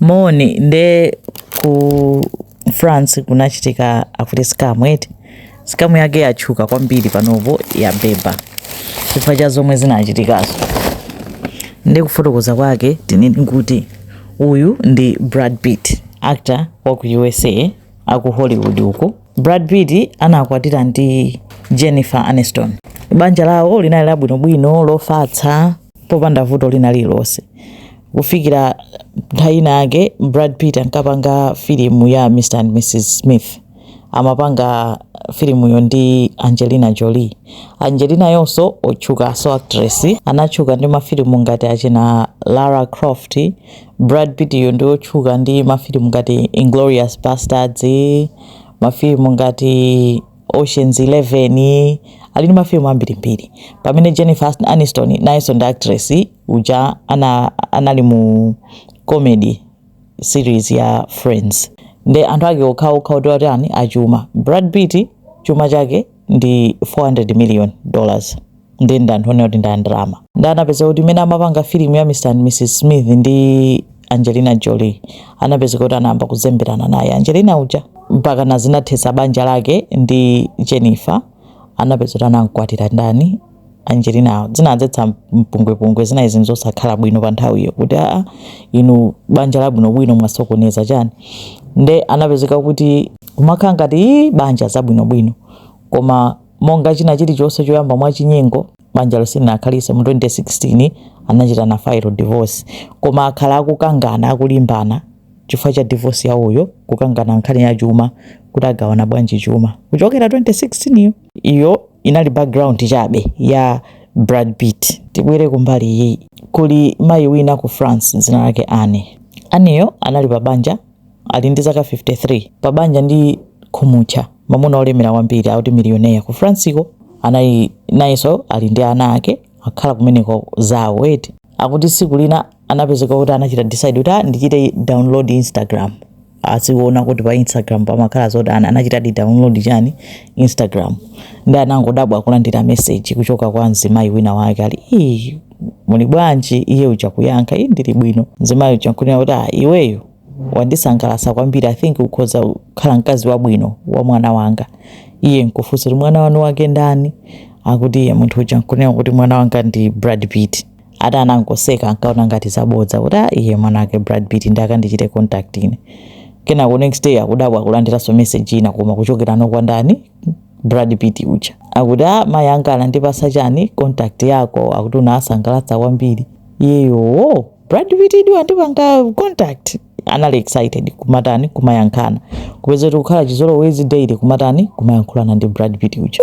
Moni nde ku France kunachitika akuti scam eti scam yake yatchuka kwambiri panopo yabeba chifukwa cha zomwe zinachitikazo nde kufotokoza kwake tinene kuti uyu ndi Brad Pitt actor wa ku USA aku Hollywood uko Brad Pitt anakwatira ndi Jennifer Aniston. Banja lawo linali labwinobwino, lofatsa, popanda vuto lina lililonse. Kufikira nthawi ina yake, Brad Pitt ankapanga filimu ya Mr and Mrs Smith. Amapanga filimuyo ndi Angelina Jolie. Angelinayonso otchuka so actress anatchuka ndi mafilimu ngati achina Lara Croft, Brad Pitt yo ndiotchuka ndi mafilimu ngati Inglorious Basterds, mafilimu ngati Oceans 11, ali ndi mafilimu ambirimbiri. Pamene Jennifer Aniston nayenso ndi actress uja anali mu comedy series ya Friends. Nde anthu ake okhaokha oti atani achuma. Brad Pitt chuma chake ndi 400 million dollars nde ndi anthu onena kuti ndi andalama nde anapezeka kuti mmene amapanga filimu ya mr and mrs smith ndi angelina jolie anapezeka kuti anayamba kuzemberana naye angelina uja mpaka nazinathetsa banja lake ndi jennifer anapezeka kuti anamkwatira ndani Angelinawo zinadzetsa mpungwepungwe zina izi nzosakhala bwino pa nthawiyo kuti aa inu banja labwinobwino mwasokoneza chani nde anapezeka kuti kumakhala ngati ii banja zabwinobwino koma monga china chilichonse choyamba mwachinyengo banjalo silinakhalitse mu 2016 anachita file divorce koma akhala akukangana akulimbana chifukwa cha divorce yawoyo kukangana nkhani ya chuma kuti agawana bwanji chuma kuchokera 2016 yo. Iyo inali background chabe ya Brad Pitt. Tibwere kumbali iyi. Kuli mayi wina ku France dzina lake Anne. Anneyo anali pa banja ali ndi zaka 53 pa banja ndi khumutcha mamuna olemera kwambiri akuti milioneya ku Franceko anali nayenso ali ndi ana ake akukhala kumeneko zawo eti akuti tsiku lina anapezeka kuti anachita decide kuti ah, ndichite download Instagram ndizione kuti pa instagram pamakhala zotani anachitadi download chani instagram nde anangodabwa kulandira message kuchokera kwa mzimayi wina wake ali "Ii, muli bwanji iye uja kuyankha iyi ndili bwino mzimayi uja nkunena kuti "Ah, iweyo wandisangalatsa kwambiri i think ukhoza kukhala mkazi wabwino wa mwana wanga iye nkufunsa kuti mwana wanu wake ndani akuti iye munthu uja nkunena kuti mwana wanga ndi brad pitt ati anangoseka ankaona ngati zabodza kuti a iye mwana wake brad pitt nde akandichite contact ine kenako next day akudabwa akulandiranso message ina koma kuchokera kwa ndani brad pitt uja akuti a mayi anga anandipasa chani contact yako akuti unawasangalatsa kwambiri iyeyowo brad pitt nde wandipanga contact anali excited kumatani kumayankhulana kupeza kuti kukhala chizolowezi daily kumatani kumayankhulana ndi Brad Pitt uja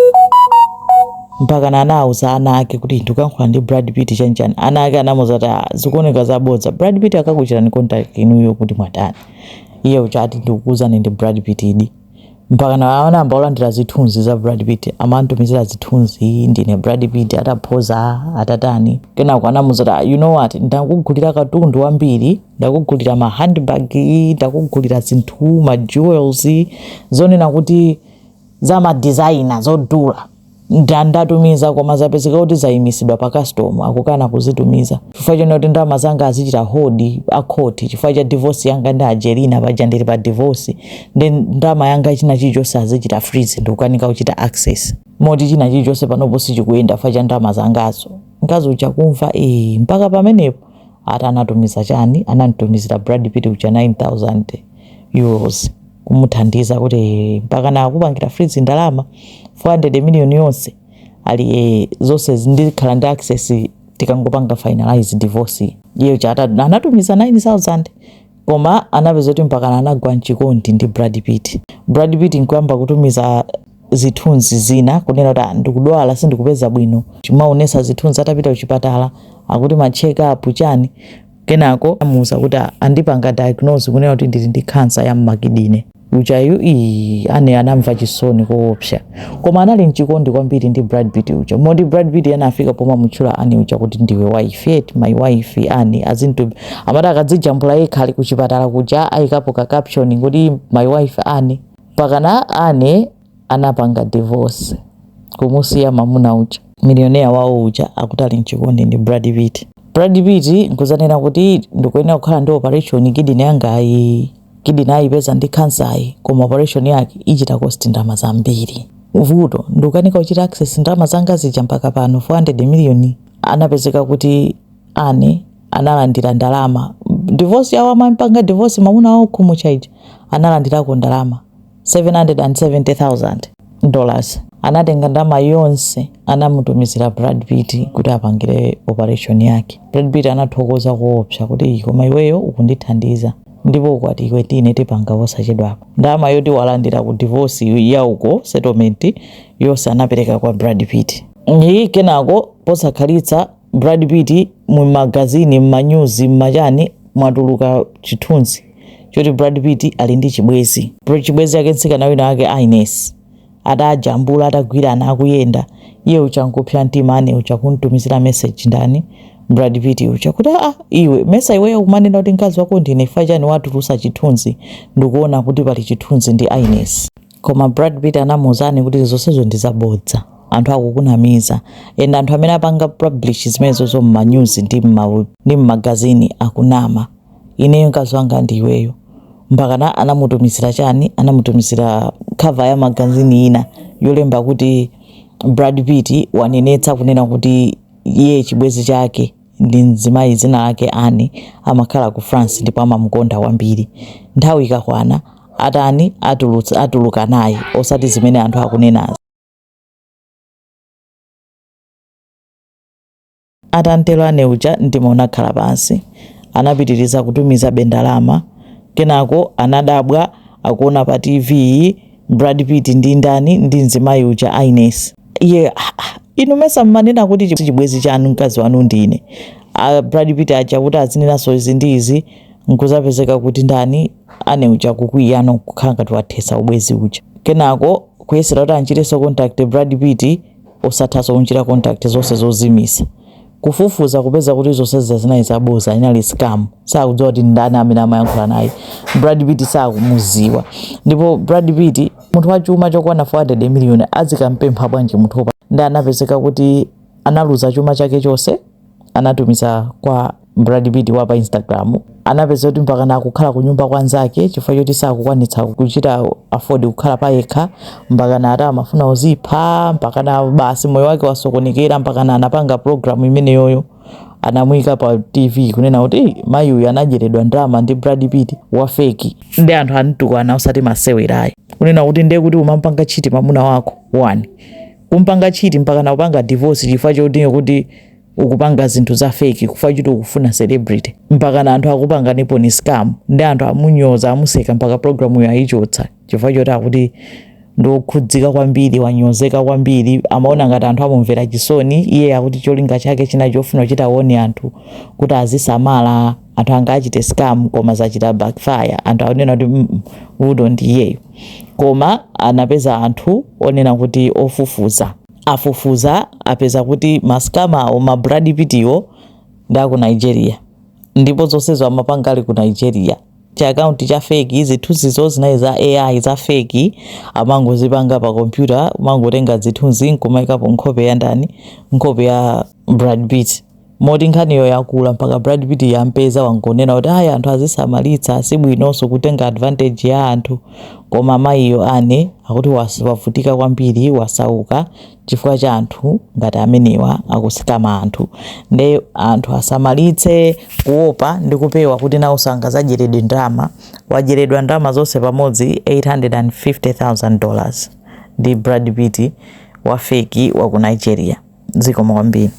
mpakana anawuza ana ake kuti ndikuyankhula ndi Brad Pitt chanchani ana ake anamuza kuti "Ah, zikuoneka zabodza Brad Pitt akakuchitani contact inuyo kuti mwatani iye uja ati ndikukuuzani ndi Brad Pitt idi mpakana anayamba kulandira zithunzi za Brad Pitt amamutumizira zithunzi ndine Brad Pitt ataphoza atatani kenako anamuza kuti "Ah, you know what ndakugulira katundu wambiri ndakugulira ma handbag ndakugulira zinthu ma jewels zonena kuti za ma designer zodula Nda ndatumiza koma zapezeka kuti zaimisidwa pa custom akukana kuzitumiza chifukwa chonena kuti ndalama zanga azichita hold akhoti chifukwa cha divorce yanga ndi Angelina paja ndili pa divorce nde ndalama yanga china chilichonse azichita freeze ndikukanika kuchita access moti china chilichonse panopo sichikuyenda chifukwa cha ndalama zangazo mkazi uja kumva ee mpaka pamenepo ati anatumiza chani anamutumizira Brad Pitt uja 9000 euros kumuthandiza kuti mpakana akupangira freeze ndalama 400 million yonse ali eh, zonse ndizikhala ndi access tikangopanga finalize divorce iye chata anatumiza 9000 koma anapeza kuti mpakana anagwa mchikondi ndi Brad Pitt Brad Pitt nkuyamba kutumiza zithunzi zina kunena kuti "Ah, ndikudwala sindikupeza bwino akumaonetsa zithunzi atapita kuchipatala akuti ma check up chani Kenako anamuuza kuti andipanga diagnose kunena kuti ndili ndi khansa ya m'makidine. Ujayu ii Anne anamva chisoni koopsa. Koma anali mchikondi kwambiri ndi Brad Pitt uja. Moti Brad Pitt anafika pomamutchula Anne uja kuti ndiwe wife eti my wife Anne azintu amati akadzijambula yekha ali kuchipatala kuja ayikapo ka caption kuti my wife Anne. Mpakana Anne anapanga divorce kumusiya mamuna uja. Millionaire wawo uja akuti ali mchikondi ndi Brad Pitt. Brad Pitt nkudzanena kuti ndikuyenera kukhala ndi operation kidney yangayi. Kidney ayipeza ndi cancer yi koma operation yake ichita cost ndalama zambiri. Vuto ndikukanika kuchita access ndalama zanga zija mpaka pano 400 million. Anapezeka kuti Anne analandira ndalama. Divorce yawo atampanga divorce mamuna wawo khumucha uja analandirako ndalama 770,000 dollars anatenga ndama yonse anamutumizira Brad Pitt kuti apangire operation yake. Brad Pitt anathokoza koopsa kuti koma iweyo ukundithandiza ndipo ukwati iwe ndi ine tipanga posachedwapa. Ndama yoti walandira ku divorce yake uko settlement yonse anapereka kwa Brad Pitt. Ii kenako posakhalitsa Brad Pitt mu magazini m'manyuzi m'machani mwatuluka chithunzi choti Brad Pitt ali ndi chibwezi chibwezi yake mtsikana wina wake Ines atajambula atagwirana akuyenda iye uja nkupsa mtima Anne uja kumtumizira message ndani Brad Pitt uja kuti a ah, iwe mesa iweyo kumanena kuti mkazi wako ndine chifukwa chani watulusa chithunzi ndikuona kuti pali chithunzi ndi Ines Koma Brad Pitt anamuuzani kuti zonsezo ndi zabodza. Anthu akukunamiza. And anthu amene apanga publish zimenezozo mma news ndi mma ndi mmagazini akunama. Ineyo mkazi wanga ndi iweyo. Mpakana anamutumizira chani? Anamutumizira cover ya magazini ina yolemba kuti Brad Pitt wanenetsa kunena kuti iye chibwezi chake ndi mzimayi dzina lake Anne. Amakhala ku France ndipo amamukonda kwambiri. Nthawi ikakwana, atani, atulutsa, atuluka naye, osati zimene anthu akunenazi. Atatero Anne uja mtima unakhala pansi. Anapitiriza kutumizabe ndalama. Kenako anadabwa akuona pa TV Brad Pitt ndi ndani? Ndi mzimayi uja Ines. iye "Ah, ah, inu mesa mmanena kuti chi- chibwezi chanu mkazi wanu ndine a brad pitt aja kuti azinenanso izi ndi izi nkuzapezeka kuti ndani Anne uja kukwiyano kukhala ngati wathesa ubwezi uja kenako kuyesera kuti anchitenso contact brad pitt osathanso kunchita contact zonse zozimisa kufufuza kupeza kuti zonse zija zinali zaboza inali scam sakudziwa kuti ndani amene amayankhula naye brad pitt sakumuziwa ndipo brad pitt munthu wa chuma chokwana 400 million azikampempha bwanji munthu ndalama ndi anapezeka kuti analuza chuma chake chonse anatumiza kwa brad pitt wa pa instagram anapeza kuti mpakana akukhala kunyumba kwa nzake chifukwa choti sakukwanitsa kuchita afford kukhala pa yekha mpakana ati amafuna uzipha mpakana basi moyo wake wasokonekera mpakana anapanga programu imeneyoyo anamuyika pa tv kunena kuti mayi uyu anadyeredwa ndalama ndi brad pitt wa feki ndi anthu amutukwana osati masewerayi kunena kuti ndiye kuti umampanga cheat mamuna wako one kumpanga cheat mpakana kupanga divorce chifukwa choti kuti ukupanga zinthu za feki chifukwa choti ukufuna celebrity mpakana anthu akupanganipo ndi scam ndi anthu amunyoza amuseka mpaka programuyo ayichotsa chifukwa choti akuti ndokhudzika kwambiri wanyozeka kwambiri amaona ngati anthu amumvera chisoni iye akuti cholinga chake china chofuna kuchita warn anthu kuti azisamala anthu angawachite scam koma zachita backfire anthu akunena kuti mm, vuto ndi iyeyo koma anapeza anthu onena kuti ofufuza afufuza apeza kuti masikama awo ma Brad Pittiwo ndi aku Nigeria ndipo zonsezo amapanga ali ku Nigeria cha akaunti cha feki zithunzizo zinayi za AI za feki amangozipanga pa kompyuta amangotenga zithunzi nkumaikapo nkhope ya ndani nkhope ya Brad Pitt moti nkhaniyo yakula mpaka Brad Pitt yampeza wangonena kuti ayi anthu azisamalitsa sibwinonso kutenga advantage ya anthu koma mayiyo Anne akuti was- wavutika kwambiri wasauka chifukwa cha anthu ngati amenewa akusikama anthu nde anthu asamalitse kuopa ndi kupewa kuti nawo asangazadyeredwe ndalama wadyeredwa ndalama zonse pamodzi 850,000 dollars ndi Brad Pitt wa feki wa ku Nigeria zikomo kwambiri